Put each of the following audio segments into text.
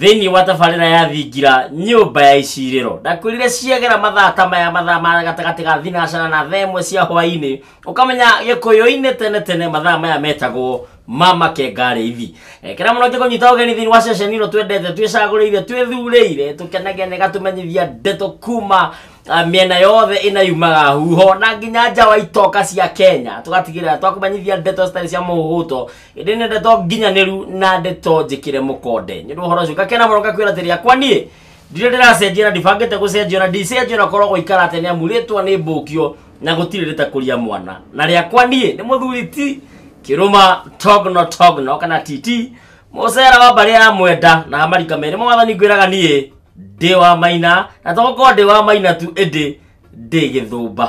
thĩinĩ wa tabarĩra ya thingira nyũmba ya icirĩro ndakwĩrire ciagera mathaa ta maya mathaa ma gatagatĩ ga thinacara na thaa ĩmwe cia hwaĩ-inĩ ũkamenya gĩkũyũ-inĩ tene tene mathaa maya metagwo ma makengarĩithi ekera mũno njĩ kũnyita ũgeni thĩinĩ wa ceceni ĩno twendete twĩcagũrĩire twĩthurĩire tũkenagia na ĩgatũmenyithia ndeto kuma ah, mĩena yothe ĩna yumaga huho na nginya nja wa itoka cia kenya tũgatigĩrĩra twakũmenyithia ndeto citarĩ cia mũhuhuto ĩndĩ nĩ ndeto nginyanĩru na ndeto njĩkĩre mũkonde nĩ ũndũ wa ũhoro ũcio ngakena mũno ngakwĩra atĩrĩ akwa niĩ ndirĩ ndĩracenjia na ndibangĩte gũcenjio na ndicenjio na korwo gũikara atĩ nĩ amu rĩtwa nĩ mbũkio na gũtirĩ rĩtakũria mwana na rĩakwa niĩ nĩ mũthuri ti kĩrũma togno togno kana titi mũcera wa mbarĩ ya mwenda na marika merĩ mwathani ngwĩraga niĩ ndĩ wa maina na tokorwo ndĩ wa maina tu ĩndĩ ndĩ gĩthũmba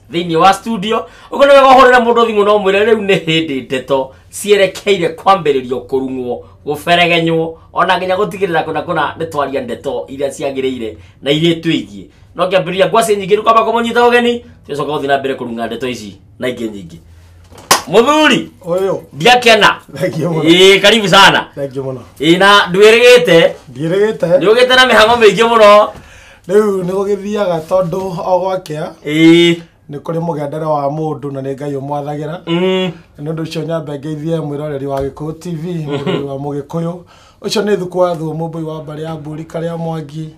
thĩinĩ wa studio ũguo nĩ wega ũhũrĩre mũndũ thimũ no mwĩre rĩu nĩ hĩndĩ ndeto cierekeire kwambĩrĩrio kũrung'wo gũberegenywo ona nginya gũtigĩrĩra kũna kũna nĩ twaria ndeto iria ciagĩrĩire na iria twĩgiĩ no ngĩambĩrĩria ngwacĩ nyingĩ rĩu kwamba kũmũnyita ũgeni tũcoka gũthiĩ na mbere kũrung'a ndeto ici na ingĩ nyingĩ mũthuri Ũyũ. ndiakena Thengiũ mũno. ĩĩ karibu sana Thengiũ mũno. ĩĩ na ndwĩrĩgĩte Ndiĩrĩgĩte. nĩ ũgĩte na mĩhango mĩingĩ mũno rĩu nĩ gũgĩthiaga tondũ o gwakĩa ĩĩ nĩ kũrĩ mũgendere wa mũndũ na nĩ ngai ũmwathagĩra mm. na nĩ ũndũ ũcio nyambe ngeithie mwĩroreri wa gĩkũyũ tv mũrori wa mũgĩkũyũ ũcio nĩ thukũ wa thuo mũmbũi wa mbarĩ ya mburi karĩa mwangi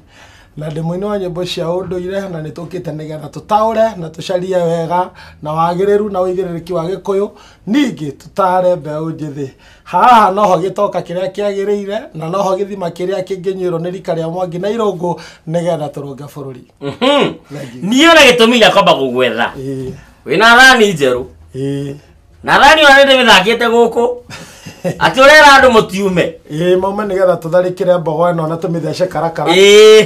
na ndĩ mũini wa nyĩmbo cia ũndũire na nĩ tũkĩte nĩgetha tũtaũre na tũcarie wega na wagĩrĩru na ũigĩrĩrĩki wa gĩkũyũ ningĩ tũtare mbeũ njĩthĩ haha noho gĩtoka kĩrĩa kĩagĩrĩire na noho gĩthima kĩrĩa kĩngĩnyuĩrwo nĩ rika rĩa mwangi na irũngũ nĩgetha tũrũnge bũrũri Mhm. Thank you. niĩ ona gĩtũmi gĩa kwamba gũgwetha Ĩĩ, wĩna thani njerũ ĩĩ, na thani ona nĩndĩ mĩthakĩte gũkũ atĩ ũrera andũ mũtiume ĩĩ maume nĩgetha tũtharĩkĩre mbogo ĩno na tũmĩthece karakara ĩĩ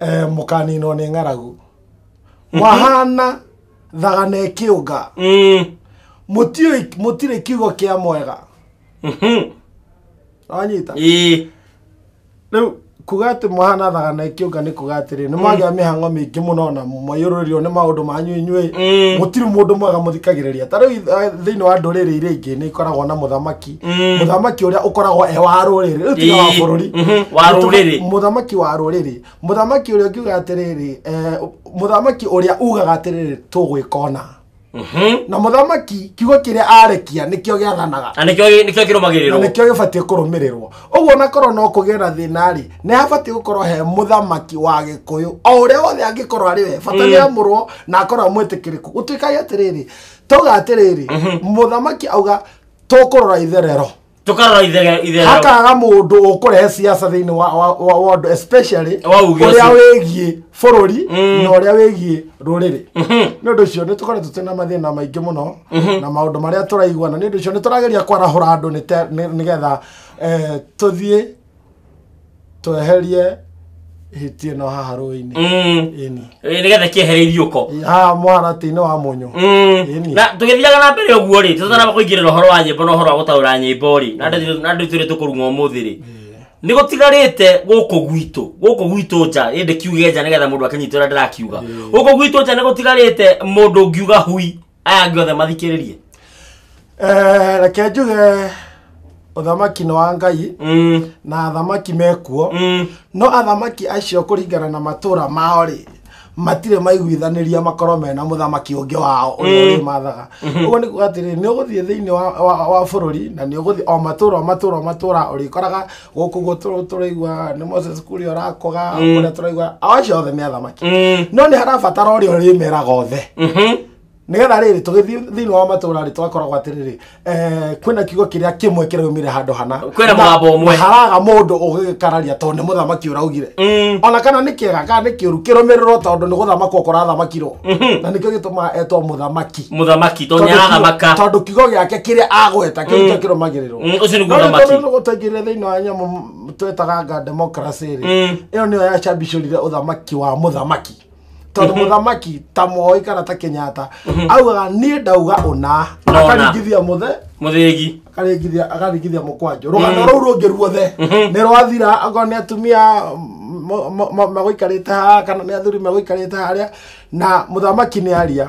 eh, mũkaninwo nĩ ng'aragu wahana thagana ĩkĩũnga Mm. mũtiũĩ- mũtirĩ kiugo kĩa mwega Mhm. wanyita Ĩĩ. rĩu kuga atĩ mwahana thagana ĩkĩũnga nĩ kuga atĩrĩ nĩ mwagĩa mĩhango mĩingĩ mũno na mwaiyũrũrĩrio nĩ maũndũ manyu inyuĩ Mm. mũtirĩ mũndũ mwega mũthikagĩrĩria ta rĩu eh, thĩinĩ wa ndũrĩrĩ iria ingĩ nĩ ikoragwo na mũthamaki Mm. mũthamaki ũrĩa ũkoragwo e wa rũrĩrĩ rĩu tiga wa Ĩĩ, bũrũri mhm, wa rũrĩrĩ. mũthamaki wa rũrĩrĩ mũthamaki ũrĩa ũkiuga atĩrĩrĩ eh, mũthamaki ũrĩa ugaga atĩrĩrĩ tũgwĩkona Mhm. na mũthamaki kiugo kĩrĩa arekia nĩkĩo gĩathanaga na nĩkĩo nĩkĩo na kĩrũmagĩrĩrwo nĩkĩo gĩbatiĩ kũrũmĩrĩrwo ũguo onakorwo no kũgĩe na thĩna-rĩ nĩ habatiĩ gũkorwo he mũthamaki wa gĩkũyũ o ũrĩa wothe angĩkorwo arĩ we bata nĩ amũrwo na akorwo amwĩtĩkĩrĩku gũtuĩkaga atĩrĩrĩ tauga atĩrĩrĩ mũthamaki auga tũkũrora itherero tũkarora ithe- itherero hakaga mũndũ ũkũrehe siasa thĩinĩ wa- wa- wa wa ũndũ especially Wa uge ũrĩa ũcio. wĩgiĩ bũrũri Mm. na ũrĩa wĩgiĩ rũrĩrĩ Mhm. nĩ ũndũ ũcio nĩ tũkoretwo twĩ na mathĩna maingĩ mũno na maũndũ marĩa tũraiguana nĩ ũndũ ũcio nĩ tũrageria kwarahũra andũ nĩ te- nĩ- nĩgetha eh, tũthiĩ tweherie hiti ĩno haha rũĩ-inĩ Mm. ĩni Eh, nĩgetha kĩehere ithiũko haha mũharatĩ-inĩ wa mũnyũ Mm. Ĩni. na tũgĩthiaga na mbere ũguo rĩ tũtanaba kũingĩrĩra ũhoro wa nyĩmbo na ũhoro wa gũtaũra nyĩmbo rĩ na andũ- na andũ twĩrĩ tũkũrung'o ũmũthĩ rĩ nĩ gũtigarĩte gũkũ gwitũ gũkũ gwitũ nja ĩndĩ kiuge nja nĩgetha mũndũ akĩnyita ũrĩa ndĩrakiuga gũkũ gwitũ nja nĩ gũtigarĩte mũndũ ngiuga hui aya angĩ othe mathikĩrĩrie Eh, reke njuge ũthamaki nĩ wa ngai Mm, na athamaki mekuo mm. no athamaki acio kũringana na matũra mao rĩ matirĩ maiguithanĩria makorwo mena mũthamaki ũngĩ wao ũrĩa ũrĩmathaga ũguo nĩ kuga atĩrĩ nĩ ũgũthiĩ thĩinĩ wa, wa, wa bũrũri na nĩ ũgũthiĩ o matũra o matũra o matũra ũrĩkoraga gũkũ guo tũ- tũraigua nĩ moses kuria ũrakoga kũrĩa tũraigua ao acio othe nĩ athamaki Mm. no nĩ harabatara ũrĩa ũrĩmeraga othe Mhm. nĩgetha rĩrĩ tũgĩthiĩ thĩinĩ wa matũra rĩ twakoragwo atĩrĩrĩ eh, kwĩna kiugo kĩrĩa kĩmwe kĩraumire handũ hana Kwĩna mũgambo ũmwe. Na haraga mũndũ ũgĩkararia tondũ nĩ mũthamaki ũraugire Mm. ona kana nĩ kĩega kana nĩ kĩũru kĩrũmĩrĩrwo tondũ nĩ gũthamakwo kũrathamakirwo na nĩkĩo gĩtũmaga etwo mũthamaki mũthamaki to Tondũ nĩ kiugo- aramaka tondũ kiugo gĩake kĩrĩa agweta kĩu nĩkĩo kĩrũmagĩrĩrwo Mm, ũcio nĩguo ũthamaki nĩguo twaingĩrire thĩinĩ wa nyamũ m- twetaganga democracy rĩ Mm. ĩyo nĩyo yacambicũrire ũthamaki wa mũthamaki tondũ mũthamaki ta moĩ kana ta kenyatta augaga niĩ ndauga ũna Nona. akaringithia mũthe mũthĩgi akaringithia akaringithia mũkwanjũ rũgano rũu rũngĩ ruothe nĩ rwathira akorwo nĩ atumia mo- mo- mo- megũikarĩte haha kana nĩ athuri megũikarĩte harĩa na mũthamaki nĩ aria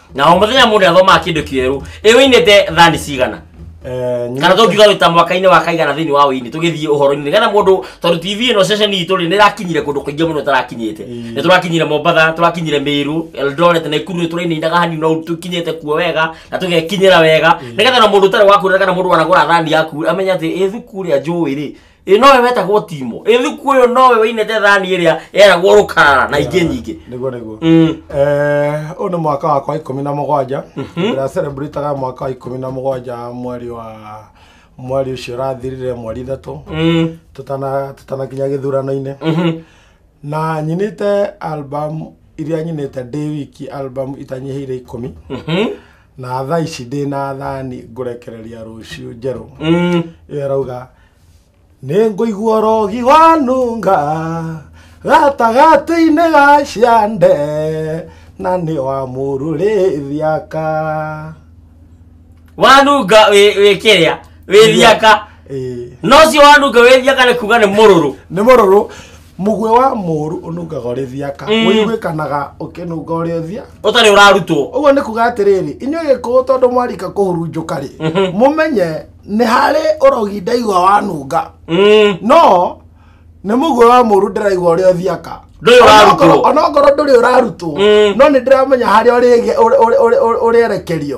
na o mũthenya mũndũ athomaga kĩndũ kĩerũ ĩ wĩinĩte thani cigana Eh, kana tũngiuga wĩ ta mwaka-inĩ wa kaigana thĩinĩ wa ũini tũgĩthiĩ ũhoro-inĩ nĩgetha mũndũ tondũ tv ĩno ceceni itũ rĩ nĩ ĩrakinyire kũndũ kũingĩ mũno ĩtarakinyĩte Mm. nĩ tũrakinyire mombatha tũrakinyire mĩrũ eldoret na ikuru nĩ tũrainainaga hani no tũkinyĩte kuo wega na tũgekinyĩra wega nĩgetha na mũndũ ũtarĩ wakuona kana mũndũ wanagũra thani yaku amenya atĩ ĩ thuku rĩa njũĩ rĩ ä nowe wetagwo timo ä thuku å yå nowe wainete thani ä rä a eragwo rå karara na ingä nyingä niguo niguo Mm. Eh, ũyũ nĩ mwaka wakwa ikũmi na mũgwanja ndĩra celebrataga mwaka wa ikũmi na mũgwanja mweri wa mweri ũcio ũrathirire mweri ithatũ Mm. tũtana- tũtanakinya gĩthurano-inĩ Mhm. na nyinĩte album iria nyinĩte ndĩ wiki album itanyihĩire ikũmi Mhm. na thaa ici ndĩ na thani ngũrekereria rũciũ njerũ Mm. ĩyo arauga nĩ ngũigua rogi wanunga gatagatĩ-inĩ ga ciande na nĩ wa mũrũrĩthiaka wanunga wĩ wĩ kĩrĩa wĩ thiaka Ĩĩ. nocio wanunga wĩ thiaka nĩ kuga nĩ mũrũrũ nĩ mũrũrũ mũguĩ wa mũru ũnungaga ũrĩ thiaka Mm. wĩiguĩkanaga ũkĩnunga ũrĩ ũthia ũtarĩ ũrarutwo ũguo nĩ kuga atĩrĩrĩ inyuĩ gĩkũũ tondũ mwarika kũhurunjũka rĩ mũmenye nĩ harĩ ũrogi ndaigua wanunga Mm. no nĩ mũguĩ wa mũru ndĩraigua ũrĩa ũthiaka Ndũrĩ ũrarutwo. Onokorwo- onokorwo ndũrĩ ũrarutwo Mm. no nĩ ndĩramenya harĩa ũrĩge- ũrĩ- ũrĩ- ũrĩ- ũrĩ- ũrĩerekerio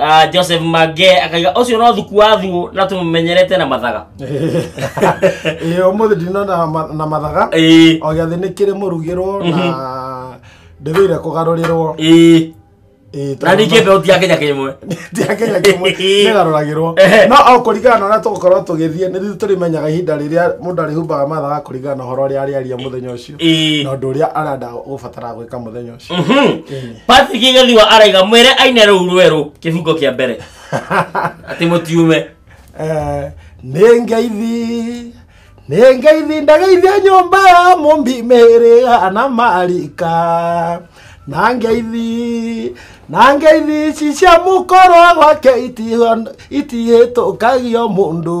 Ah, joseph mage akaiga ũcio no thuku wa thuo na tũmũmenyerete na mathaga ĩĩ ũmũthĩ ndino na ma- na mathaga Ĩĩ, o gĩathĩ nĩ kĩrĩ mũrugĩrwo na ndĩthĩire kũgarũrĩrwo ĩĩ. Ĩĩ, na ningĩ tondũ- mbeuti ya kenya kĩmwe Tia Kenya kĩmwe nĩgarũragĩrwo Ehe. no o kũringana na ũrĩa tũgũkorwo tũgĩthiĩ nĩ ithuĩ tũrĩmenyaga ihinda rĩrĩa mũndũ arĩhumbaga mathaga kũringana na ũhoro ũrĩa arĩaria mũthenya ũcio Ĩĩ. na ũndũ ũrĩa arenda gũbatara gwĩka mũthenya Mhm. Patrick Gĩthua araiga mwĩre aine rũu rwerũ kĩbungo kĩa mbere atĩ mũtiume Eh, nĩ ngeithi nĩ ngeithi ndageithia nyũmba ya mũmbi mĩhĩrĩga na marika na ngeithi na ngeithi ici cia mũkorwa gwake itihĩtũkagio mũndũ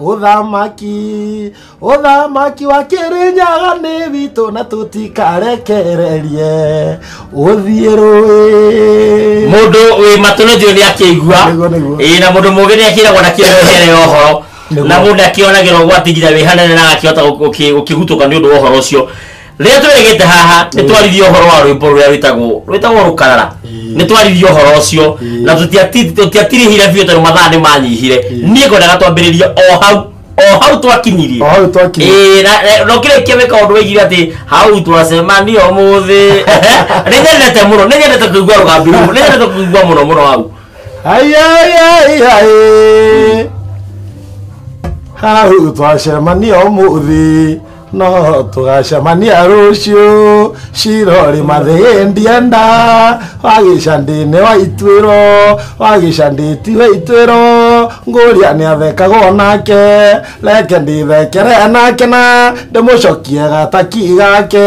Ũthamaki, ũthamaki wa Kĩrĩnyaga nĩ witũ na tũtikarekererie ũthiĩ rũĩ. Mũndũ wĩ matũ nĩ njũĩ nĩ akĩigua. Nĩguo, nĩguo. Ĩĩ na mũndũ mũũgĩ nĩ akĩragwo na kĩonereria kĩnene ya ũhoro. Nĩguo. Na mũndũ nĩ akĩonagĩra ũgwati nginya wĩ hanene na agakĩhota gũkĩ- gũkĩgutũka nĩ ũndũ wa ũhoro ũcio. rĩrĩa tweregete haha nĩ twaririe ũhoro wa rwĩmbo rũrĩa rwĩtagwo rwĩtagwo rũkarara nĩ twaririe ũhoro ũcio na tũtiati- tũtiatirĩhire biũ tondũ mathaa nĩ manyihire niĩ ngwendaga twambĩrĩrie o hau o hau twakinyirie hau twakinyire Ĩĩ, na- na- no kĩrĩkia wĩka ũndũ wĩigire atĩ hau twacemanio mũthĩ nĩ nyendete mũno nĩ nyendete kũigua rũgambi rũu nĩ nyendete kũigua mũno mũno hau Ai, ai, ai, ai. hau twacemanio mũthĩ no tũgacemania rũciũ cirorĩ mathĩgĩ ndienda wagĩcandĩne wa ituĩro wagĩcandĩti wa ituĩro ngũria nĩ athekagwo nake reke ndĩthekere nake na ndĩmũcokie gataki gake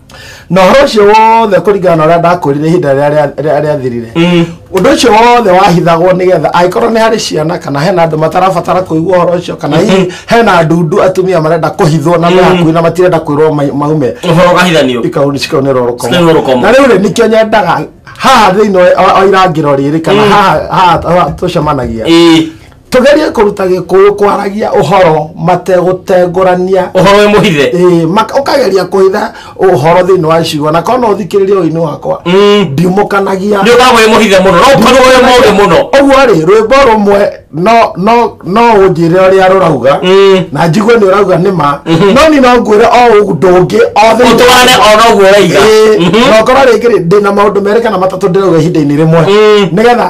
na ũhoro ũcio wothe kũringana na ũrĩa ndakwĩrire ihinda rĩrĩa rĩa- rĩa- rĩathirire ũndũ ũcio wothe wahithagwo nĩgetha angĩkorwo nĩ harĩ ciana kana hena andũ matarabatara kũigua ũhoro ũcio kana hihi hena ndundu atumia marenda kũhithwo na me hakuhĩ na matirenda kwĩrwo ma- maume ũhoro ũkahithanio ikauni cikaunĩrwo Cikaunĩrwo rũkomo rũkomo. na rĩu rĩ nĩkĩo nyendaga haha thĩinĩ wa- wa wa irangĩro rĩrĩ kana haha haha- haha tũcemanagia Ĩĩ. tũgerie kũruta gĩkũyũ kwaragia ũhoro mategũtengũrania ũhoro wĩ mũhithe Ĩĩ, maka- ũkageria kũhitha ũhoro thĩinĩ wa icigo na kona ũthikĩrĩria ũinĩ wakwa Mm. ndiumũkanagia nĩ ũkoragwo wĩ mũhithe mũno no ũkorwo wĩ mũũgĩ mũno ũguo rĩ rwĩmbo rũmwe no- no- no ũnjĩre ũrĩa rũrauga Mm. na njigue nĩ ũrauga nĩ ma no ni no ngwĩre o ũndũ ũngĩ o thĩinĩ ũtwarane wa- ona ũguo ũraiga Ĩĩ, Mhm. na ũkorwo rĩngĩ rĩ ndĩna maũndũ merĩ kana matatũ ndĩrauga ihinda-inĩ rĩmwe Mm. nĩgetha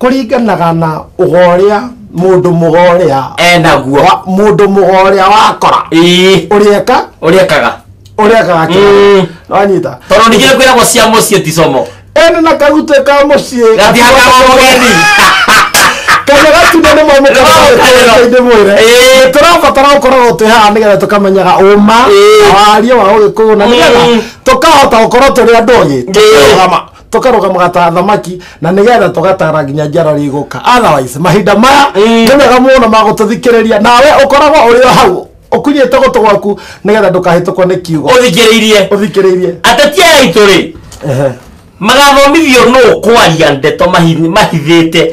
kũringanaga na ũgoria mũndũ mũgoria enaguo wa- mũndũ mũgoria wakora ii ũrĩeka ũrĩekaga ũrĩekaga Mm. kĩrĩa wanyita tondå ningä nä kwä ragwo cia må ciä ticomo ene na kagutĩ ka mũciĩ gatihakagwo geni kana gatundu nĩ mwe mũkaraĩndĩ mwĩre Ĩĩ. tũrabatara gũkoragwo twĩ haha nĩgetha tũkamenyaga ũma Ĩĩ. na waria wa ũgĩkũyũ na nĩgetha Mm. tũkahota gũkorwo tũrĩ andũ ogĩ tũkĩrũgama tũkarũgamaga ta athamaki na nĩgetha tũgatara nginya njiarwa iria igũka otherwise mahinda maya Ĩĩ. nĩ mega mũno ma gũtũthikĩrĩria nawe ũkoragwo ũrĩ o hau ũkunyĩte gũtũ gwaku nĩgetha ndũkahĩtũkwo nĩ kiugo ũthikĩrĩirie ũthikĩrĩirie ateti aya aitũ rĩ Ehe. magathomithio nũ kwaria ndeto mahi- mahithĩte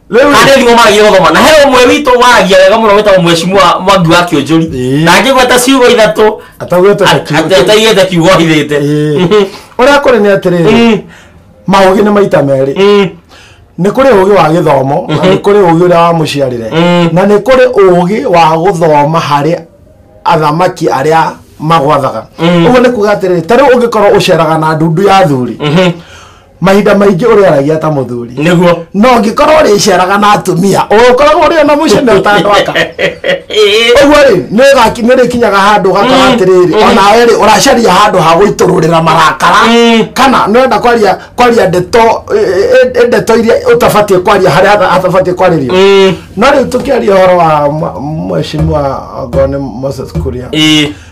Harĩ thimo magĩrĩirwo gũthoma na he ũmwe witũ waragia wega mũno wĩtagwo mwecimua mwangi wa kĩũnjũri Ĩĩ. na angĩgweta ciugo ithatũ ataugetwo ataigĩte kiugo ohithĩte ũrĩa kũrĩ nĩ atĩrĩrĩ maũgĩ nĩ maita merĩ nĩ kũrĩ ũgĩ wa gĩthomo na nĩ kũrĩ ũgĩ ũrĩa wa mũciarĩre Mm. na nĩ kũrĩ ũgĩ wa gũthoma harĩ athamaki arĩa magwathaga Mm. ũguo nĩ kuga atĩrĩrĩ tarĩu ũngĩkorwo ũceraga na ndundu ya athuri mahinda maingĩ ũrĩaragia ta mũthuri nĩguo no ngĩkorwo ũrĩceraga na atumia ũkoragwo ũrĩ ona mũciĩ na ũtandwaka ũguo rĩ nĩũgaki- nĩũrĩkinyaga handũ ũgakora Mm, atĩrĩrĩ mm. onawe rĩ ũracaria handũ ha gũitũrũrĩra marakara Mm. kana nĩwenda kwaria kwaria ndeto ĩ- ĩ- ĩ- ndeto iria ũtabatiĩ kwaria harĩa hata- hatabatiĩ kwarĩrio Mm, no rĩu tũkĩaria ũhoro wa mwa- mheshimiwa ngone moses kuria ĩĩ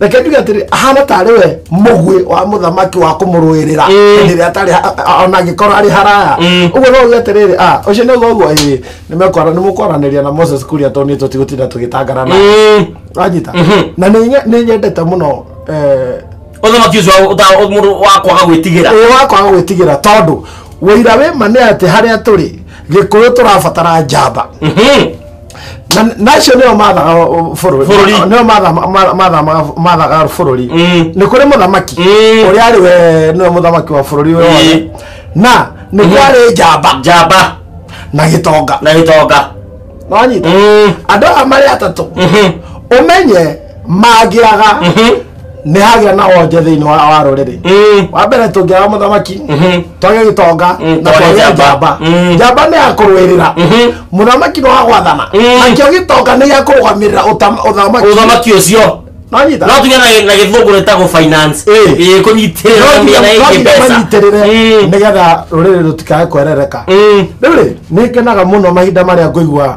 reke njuge atĩrĩ ahana tarĩ we mũguĩ wa mũthamaki wa kũmũrũĩrĩra hĩndĩ ĩrĩa atarĩ ha- a- ona angĩkorwo arĩ haraya ũguo no uge atĩrĩrĩ "Ah, ũcio nĩ ũguo ũguo ĩĩ nĩmekwara nĩmũkwaranĩria na moses kuria tondũ nĩ tũtigũtinda tũgĩtangana na wanyita na nĩ nye- nĩ nyendete mũno eh, ũthamaki ũcio wa- ũta- ũ- mũndũ wa kwaga gwĩtigĩra ĩĩ wakwaga gwĩtigĩra tondũ wĩira wĩ ma nĩ atĩ harĩa tũrĩ gĩkũyũ tũrabatara njamba Na- nacio nĩo mathaga ũ- bũrũri Bũrũri. nĩo matha- ma- ma- matha- mathaga bũrũri Mm. nĩ kũrĩ mũthamaki Mm. ũrĩa arĩ we nĩwe mũthamaki wa bũrũri ũyũ wothe Mm. na nĩ kwarĩ njamba njamba na gĩtonga na gĩtonga nonyita Mm. andũ aya marĩ atatũ Mhm. ũmenye mangĩaga Mhm. nĩ hagĩa na wonje thĩinĩ wa wa rũrĩrĩ Mm. wa mbere tũngĩaga mũthamaki Mhm. twage gĩtonga Mm, na twage twage njamba. njamba Mm. njamba nĩ ya kũrũĩrĩra Mhm. mũthamaki nĩ wa gwathana Mm. nakĩo gĩtonga nĩ gĩa kũrũgamĩrĩra ũtam- ũthamaki ũthamaki ũcio nonyita no tuge na gĩ- na gĩthũngũ rĩtagwo finance Ĩĩ. Ĩĩ, kũnyitĩrĩra na mĩena ĩngĩ mbeca manyitĩrĩre Mm. nĩgetha rũrĩrĩ rũtikae kwerereka Mm. rĩu rĩ nĩ ngenaga mũno mahinda marĩa ngũigua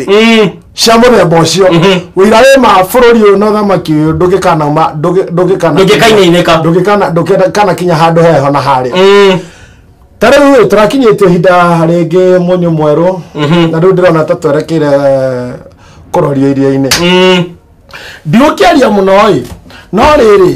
Mm. cia mũthemba ũcio wĩira wĩ ma bũrũri ũyũ na ũthamaki ũyũ ndũgĩkana ma- ndũgĩ- ndũgĩkana Ndũgĩkainainĩka. ndũgĩkana ndũgĩkana kinya handũ heho na harĩa Mm. ta rĩu rĩ tũrakinyĩtie ihinda rĩngĩ mũnyũ mwerũ na rĩu ndĩrona ta twerekeire kũroria iria-inĩ Mm. ndigũkĩaria mũno ĩ no rĩrĩ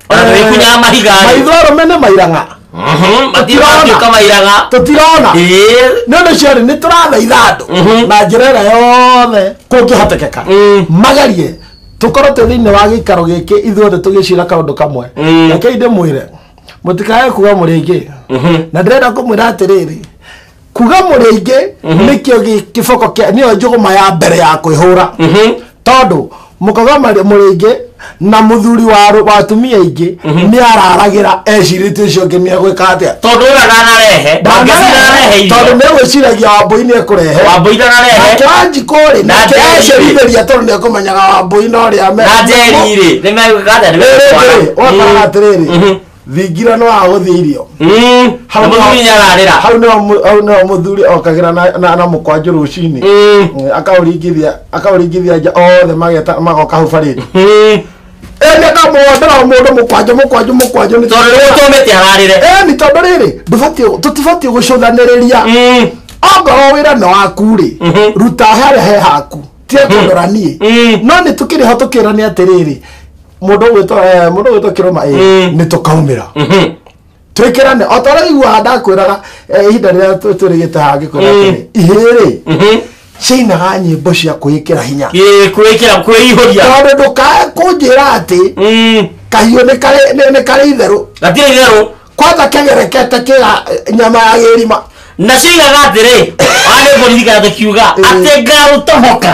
Ona tũgĩkunyaga mahiga rĩ. maitho arũme nĩ mairang'a Mhm, matiratuĩka mairaga tũtirona Ĩĩ. nĩ ũndũ ũcio rĩ nĩ tũrathaitha andũ Mhm. na njĩra ĩrĩa yothe kũngĩhotekeka Mm. magerie tũkorwo twĩ thĩinĩ wa gĩikaro gĩkĩ ithuothe tũgĩcira kaũndũ kamwe Mm. rekei ndĩmwĩre mũtikae kuga mũrĩngĩ Mhm. na ndĩrenda kũmwĩra atĩrĩrĩ kuga mũrĩ aingĩ nĩkĩo gĩ- kĩboko kĩa nĩyo njũgũma ya mbere ya kwĩhũra tondũ mũkoga marĩ- mũrĩ aingĩ na mũthuri wa rũ- wa atumia aingĩ nĩ araragĩra ecirĩtie ũcio ũngĩ nĩ egwĩka atĩa tondå å rä a ndanarehe ndangäcirarehe irio tondå nä gwä ciragia wambåi nä ekå rehe wambåi ndanarehe nakäanjikå rä Na Njeri-rĩ. nakäacerithä ria tondå nä ekå menyaga wambåi no rä a na njeri rä nä megwä ka atä nä wakoraga atä rä rä thingira no ahũthie irio Mm. Hau Na mũthuri no- nĩararĩra hau nĩho mũ- hau nĩho mũthuri okagĩra na- na- na mũkwanjũ rũcinĩ Mm. Mm, akaũringithia akaũringithia nja othe mageta magoka hau barĩri Mm. eni akamwondera mũndũ mũkwanjũ mũkwanjũ mũkwanjũ nĩ tondũ rĩu tũmĩte ararĩre eni tondũ rĩrĩ ndũbatiĩ- tũtibatiĩ gũcũthanĩrĩria Mm. ongorwo wĩra nĩ waku rĩ Mhm. ruta harĩa he haku tiga kũndora niĩ Mm. no nĩ tũkĩrĩ ho tũkĩrania atĩrĩrĩ mũndũ ũgwĩtwo eh, mũndũ ũgwĩtwo kĩrũma ĩ Mm. nĩ tũkaumĩra Mhm. twĩkĩrane o ta ũrĩa iguaga ndakwĩraga eh, ihinda rĩrĩa tũ- tũrĩgĩte haha ngĩkwĩra Mm. atĩrĩ ihĩrĩ Mhm. ciinaga nyĩmbo cia kwĩkĩra hinya Ĩ, kwĩkĩra kwĩihũria tondũ ndũkae kũnjĩra atĩ Mm. kahiũ nĩ karĩ- nĩ- nĩ karĩ itherũ gatirĩ itherũ kwanja kegerekete kĩga nyama ya gĩrima na ciigaga atĩrĩ arĩ borithi kana tũkiuga atĩ ngarũtohoka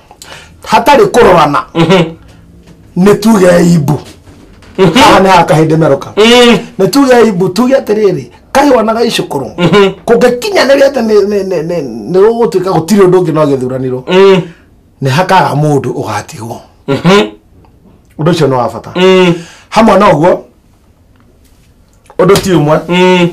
hatarĩ kũrorana nĩ tuge imbu haha nĩ haha kahĩndĩ meroka nĩ tuge imbu tuge atĩrĩrĩ kahĩwa na gaicũkũrũ kũngĩkinyanĩria atĩ nĩ- nĩ- nĩ- nĩ- nĩ gũgũtuĩka gũtirĩ ũndũ ũngĩ no gĩthuranirwo nĩ hakaga mũndũ ũgatigwo ũndũ ũcio nĩ wa bata hamwe na ũguo Ũndũ ti ũmwe. Mm.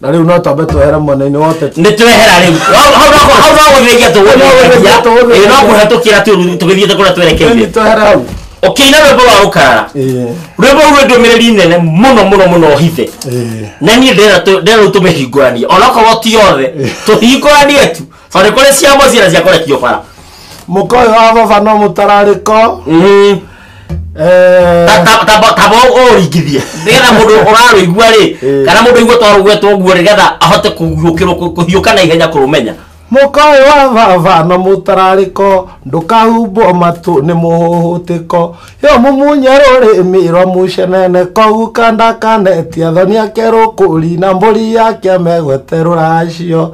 Na rĩu no twambe twehere mwena-inĩ wa ũteti. Nĩ twehera rĩu. Hau hau no kũ- hau no gũthĩnja tũgũthĩnja. Ĩĩ no kũhetũkĩra tu rĩu tũgĩthiĩte kũrĩa twerekeire. Nĩ twehere hau. Ũkĩina rwĩmbo rwa rũkarara. Ĩĩ. Rwĩmbo rũu rwĩ ndũmĩrĩri nene mũno mũno mũno hithe. Ĩĩ. na niä ndä rä u tå mä hingåranie onakorwo ti othe tå hingåranie tu Farĩ kũrĩ cia mũciĩ na cia kũrekio bara. Mũka ũyũ wa baba no mũtararĩko. Mhm. Eh, Ta- ta- tamba tamba ũringithie nĩgetha mũndũ ũrarũigua rĩ Eh. kana mũndũ igua twarũgwetwo ũguo nĩgetha ahote kũhiũkĩrwo kũ- kũhiũka na ihenya kũrũmenya Mũka ũyũ wa baba no mũtararĩko. Ndũkahumbwo matũ nĩ mũhũhũtĩko. Yo mumunye rũrĩmĩ rwa mũcenene kũu kanda kanetia thoni ake rũkũri na mbũri yake megwete rũracio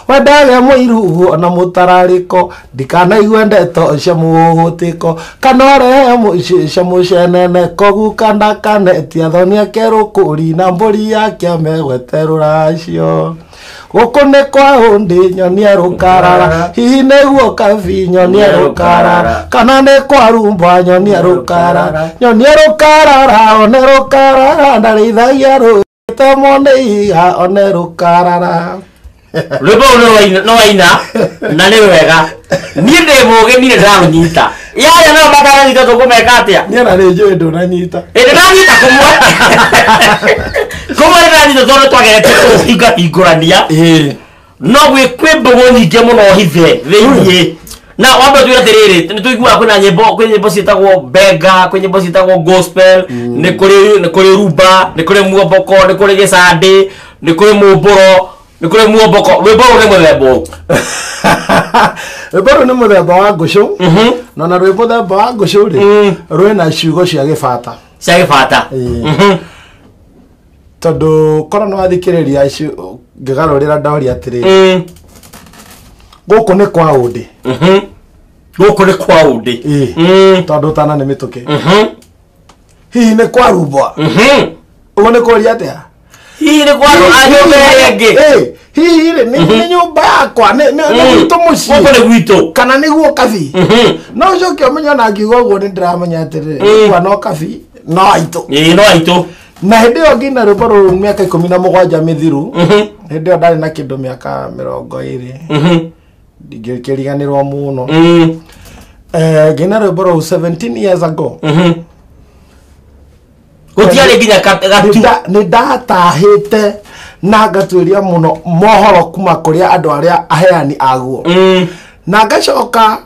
we ndage mũirugu ona mũtararĩko ndikanaigue ndeto cia mũhũhũtĩko kana ũrehe mũciĩ cia mũcenene kũu kanda kanetia thoni ake rũkũri na mbũri yake megwete rũracio gũkũ nĩ kwa hũndĩ nyonia rũkarara hihi nĩguo kabi nyonia rũkarara kana nĩ kwa rumba nyonia rũkarara nyonia rũkarara one rũkarara ndarĩithagia rũĩ tamwo nĩ ihiga one rũkarara rwĩmbo rũu nĩ rwaina- nĩ waina na nĩ rwega niĩ ndĩ mũgĩ ndirĩ ndaũnyita yaya nayo mataranyita tũkũmeka atĩa niä na rä njå ä ndå nanyita ĩndĩ ndanyita kũmwe kũmwe ndanyita tondũ twagete kũhinga hingũrania no gwĩ kwĩ mbũgũ nyingĩ mũno hithe thĩinĩ na wambe tuge atĩrĩrĩ nĩ tũiguaga kwĩna nyĩmbo kwĩ nyĩmbo ciĩtagwo benga kwĩ nyĩmbo ciĩtagwo gospel nĩ kũrĩ nĩ kũrĩ rumba nĩ kũrĩ muomboko nĩ kũrĩ gĩcandĩ nĩ kũrĩ mũmbũro nä kå rä muomboko rwä mbo rå rä må themba å rwĩmbo rũu nĩ mũthemba wa ngũcũ na na rwĩ mũthemba wa ngũcũ rĩ Mm. rwĩ na ciugo cia gĩbata cia gä bata Ĩĩ. tondũ korwo nĩ wathikĩrĩria ici ngĩgarũrĩra ndoria atĩrĩ gũkũ nĩ kwa ũndĩ gå kå nä kwa å ndä Ĩĩ. tondũ tana nĩ mĩtũkĩ hihi nĩ kwarumbwa ũguo nĩ kũria atĩa hihi nĩ kwa andũ a nyũmba ĩrĩa ĩngĩ Eh, hihi rĩ nĩ nĩ nyũmba yakwa nĩ nĩ- nĩ gwitũ gũkũ mũciĩ nĩ gwitũ kana nĩguo kabi Mhm. no ũcoke ũmenye ona ngiuga ũguo nĩ ndĩramenya atĩrĩ Mm. kwa no kabi no aitũ ĩĩ no aitũ na hĩndĩ ĩyo ngina rwĩmbo rũrũ mĩaka ikũmi na mũgwanja mĩthiru Mhm. hĩndĩ ĩyo ndarĩ na kĩndũ mĩaka mĩrongo ĩrĩ Mhm. ndingĩkĩriganĩrwo mũno Mm. Eh, ngina rwĩmbo rũu 17 years ago Mhm. gũtiarĩ nginya ka- gatu Nĩnda- nĩndatahĩte na ngatuĩria mũno mohoro kuma kũrĩa andũ arĩa aheani aguo Mm, na ngacoka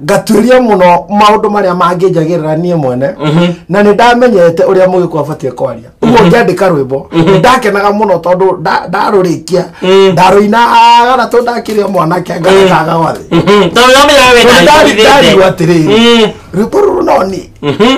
ngatuĩria mũno maũndũ marĩa mangĩnjagĩrĩra niĩ mwene Mhm. na nĩ ndamenyete ũrĩa mũgĩkwa batiĩ kwaria ũguo ngĩandĩka rwĩmbo nĩ ndakenaga mũno tondũ nda- ndarũrĩkia Mm. ndarũinaga na tondũ ndakĩrĩa mwanake ngagataga gwathĩ mhm. tondũ nĩwamenya wewe Tondũ ndari- ndarigwo atĩrĩrĩ Mm, rwĩmbo rũrũ no niĩ mhm.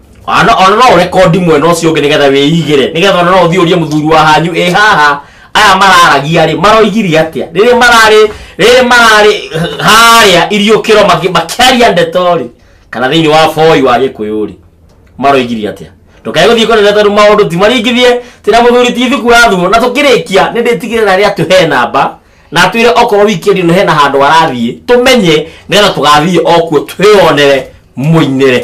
Ana ona no rekondi mwena ũcio ũngĩ nĩgetha wĩigĩre nĩgetha ona no ũthiĩ ũrie mũthuri wa hanyu ĩ haha aya mararagia rĩ maroigirie atĩa rĩrĩa mararĩ rĩrĩa mararĩ harĩa iriũkĩro makĩ- makĩaria ndeto rĩ kana thĩinĩ wa boi wa gĩkũyũ rĩ maroigirie atĩa ndũkae gũthiĩ kũnene tondũ maũndũ ti maringithie tĩna mũthuri ti thuku wathurwo na tũkĩrĩkia nĩ ndĩtigĩrĩra rĩ atĩ he namba na atwĩre okorwo wikendi no hena handũ arathiĩ tũmenye nĩgetha tũgathiĩ okuo twĩyonere mũinĩre